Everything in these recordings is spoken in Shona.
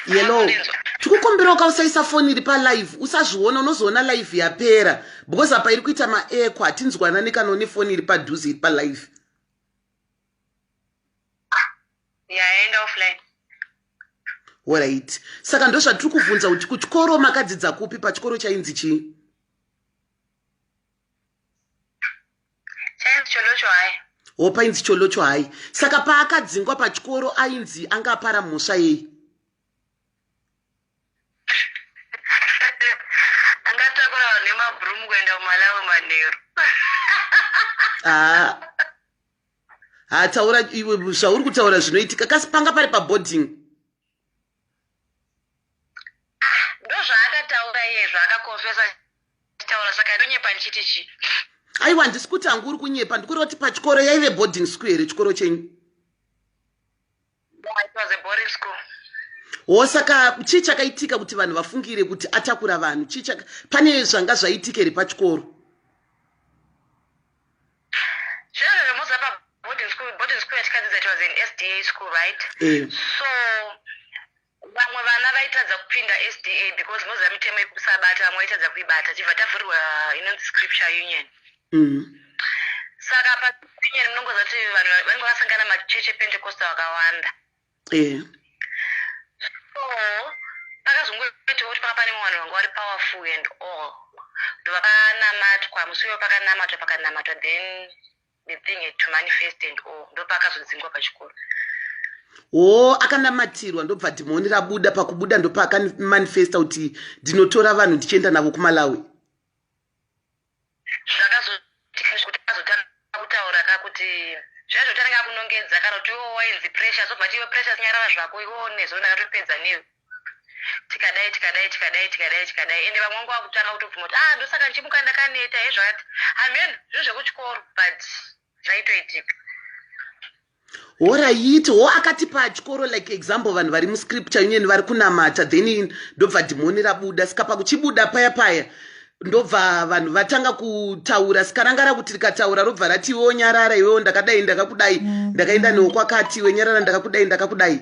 yellow tikukumbirawo ka usaisa foni iri palive usazviona unozoona live yapera because apa iri kuita maeko hatinzwanani kana une foni iri padhuze iri palive yaenda offline orit saka ndozvatiri kuvhunza kuti kuchikoro makadzidza kupi pachikoro chainzi chii chainzi cholocho hai ho painzi cholocho hai saka paakadzingwa pachikoro ainzi anga apara mhosva yei angatakura vanhu nemabroom kuenda kumalawi manheru haa haa taura iwe zvauri kutaura zvinoitika kasi panga pari paboarding ndozvaakataura iye zvaakakonfesa taura saka ndonyepa ndichiti chii aiwa handisi kuti hangu uri kunyepa ndikureva kuti pachikoro yaive boarding school here chikoro chenyu wo saka chii chakaitika kuti vanhu vafungire kuti atakura vanhu chii chaka pane zvanga zvaitika here pachikoro eh. so Vamwe vana vaitadza kupinda SDA because moziva mitemo yekusabata vamwe vaitadza kuibata tichibva tavhurirwa inonzi scripture union. Mm. Saka pa union munongoziva kuti vanhu vanenge vasangana machurch ePentecostal akawanda. Yeah. So pakazongoitawo kuti paka pane vanhu vanga vari powerful and all ndovakanamatwa musi uyo pakanamatwa pakanamatwa then the thing had to manifest and all ndopakazodzingwa pachikoro oo oh, akanamatirwa ndobva dhimoni rabuda pakubuda ndopaakanmanifesta kuti ndinotora vanhu ndichienda navo kumalawi zvakazotaura ka kuti zvaizvo tanenge akunongedza kana kuti iwo wainzi pressure zobva tiwe pressure sinyarara zvako iwo nezvo ndakatopedza newe tikadai tikadai tikadai tikadai tikadai ende vamwe vangu vakutanga kutobvuma kuti ah ndosaka ndichimuka ndakaneta hezvakati hameno zvinhu zvekuchikoro but zvaitoitika horayiti ho akati pachikoro like example vanhu vari muscripture union vari kunamata then ndobva dhimoni rabuda saka pakuchibuda paya paya ndobva vanhu vatanga kutaura sikarangara kuti rikataura robva rati iwewo nyarara iwewo ndakadai ndakakudai mm. ndakaenda newo kwakati iwe nyarara ndakakudai ndakakudai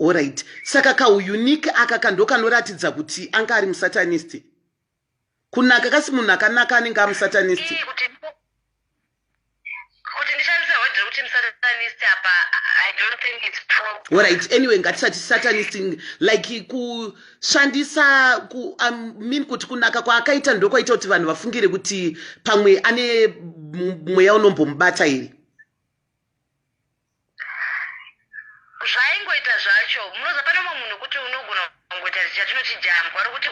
Alright. Saka kaunique aka ka ndokanoratidza kuti anga ari musatanist. Kunaka kasi munhu akanaka anenge amusatanist. Kuti kuti ndishandise word rekuti musatanist apa I don't think it's proper. Alright. Anyway, ngatisati satanist like kushandisa ku I mean kuti kunaka kwaakaita ndokwaita kuti vanhu vafungire kuti pamwe ane mweya unombomubata here. zvaingoita zvacho munoziva pane umwe munhu kuti unogona kungoita chatinoti jambwa rokuti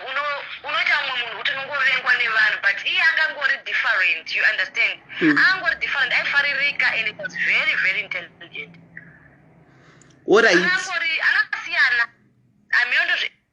unoita umwe munhu kuti unongovengwa nevanhu but iye angangori different you understand mm. angangori different aifaririka and it was very very intelligent orit anasiyana amiondo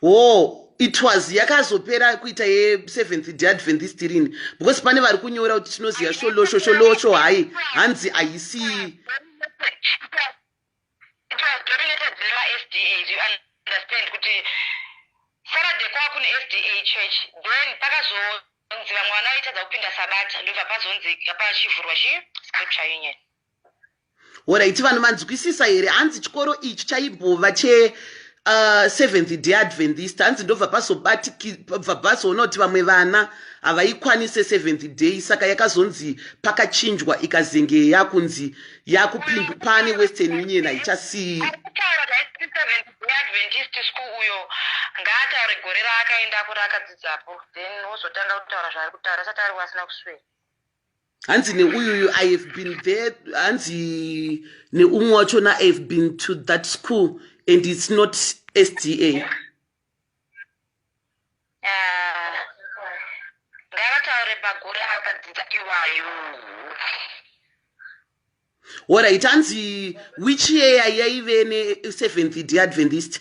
hoo it was yakazopera kuita yeseventh day adventist rini because pane vari kunyora kuti tinoziva sholosho sholosho hayi hanzi haisii pakazonzi vamwe vana vaitadza kupinda sabata ndobva pazonzi pachivhurwa chi scripture union Horaiti vanhu manzwisisa here hanzi chikoro ichi chaibhova che uh, seventh day adventist hanzi ndobva pazobatikibva pazoona kuti vamwe vana havaikwanise seventh day saka yakazonzi pakachinjwa ikazenge yakunzi yakupindu pane western union haichasii ngaataure gore raakaenda kuri akadzidzapo then wozotanga kutaura zvaari kutaura asati ari wasina kuswera hanzi neuyuyu i have been there hanzi neumwe wachona i have been to that school and its not sda ah, ngavataure magore akadzidza iwayo orit hanzi which yeya yaive neseventh deadventist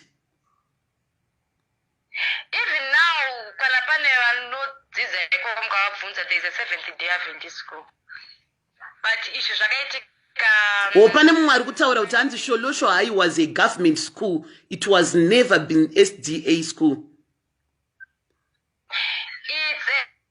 Even now kana pane vanodzidza ikoko mukavabvunza there is a seventh day Adventist school. But izvi zvakaitika or pane mumwe ari kutaura kuti hanzi sholosho hai was a government school it was never been sda school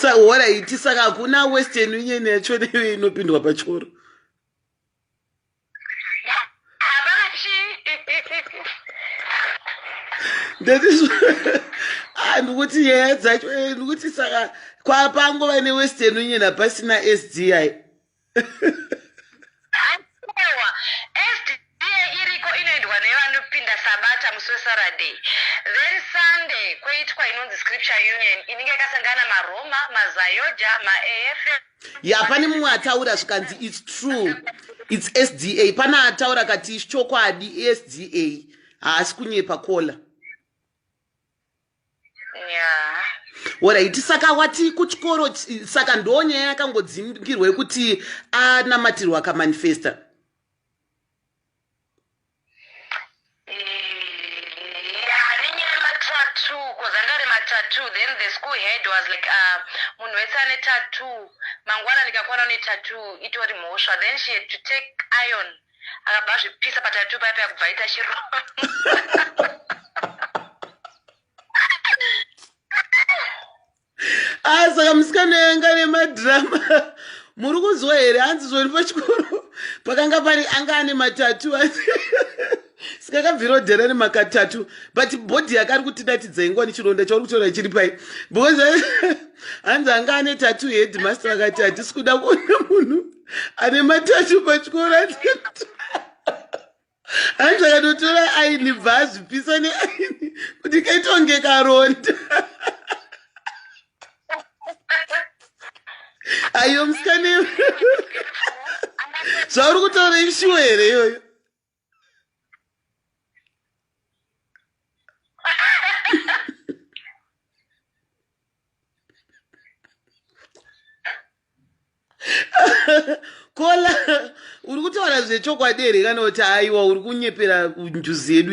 sa what i ti saka hakuna western union yacho neiyo inopindwa pachikoro ah, ndikuti nyaya dzacho eh, ndikuti saka kwapango vane western union hapasina sdi Akowa, SDA iriko inoendwa nevanopinda Sabata musi weSaraday. Then Sunday kwoitwa inonzi Scripture Union inenge yakasangana maRoma, maZayoja, maEFE. Ya pane mumwe ataura zvikanzi it's true. It's SDA. Pane ataura kati chokwadi SDA. Haasi kunyepa kola. Alright, saka wati kuchikoro saka ndo nyaya yakangodzingirwa yekuti anamatirwa akamanifesta. then the school head was like uh, munhu wese ane tattoo mangwana ndikakwana ne tattoo itori mhosva then she had to take iron akabva azvipisa patatu paya paya kubva aita chiro ah, saka musikana yanga nemadhirama muri kunzwa here hanzi zvori pachikoro pakanga pari anga ane matatu sikakabvira odhera nemakatatu but bhodhi yake ari kutidatidza ingwa nechironda chauri kutaura chiri pai because hanzi anga ane tatu headmaster akati hatisi kuda kuona munhu ane matacho pachikoro hanzi akatotora aini bva azvipisa neaini kuti kaitonge karonda ayo musikane zvauri kutaura ishuwa here iyoyo kola uri kutaura zvechokwadi here kana kuti aiwa uri kunyepera njuzi yedu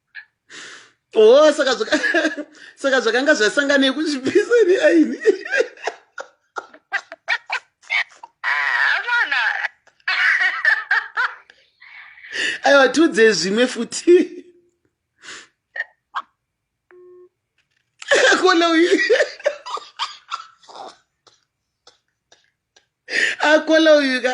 oh saka zvaka saka zvakanga zvasangana yekuchipisa ne aini aiwa tiudze zvimwe futi akona uyu akola uyu ka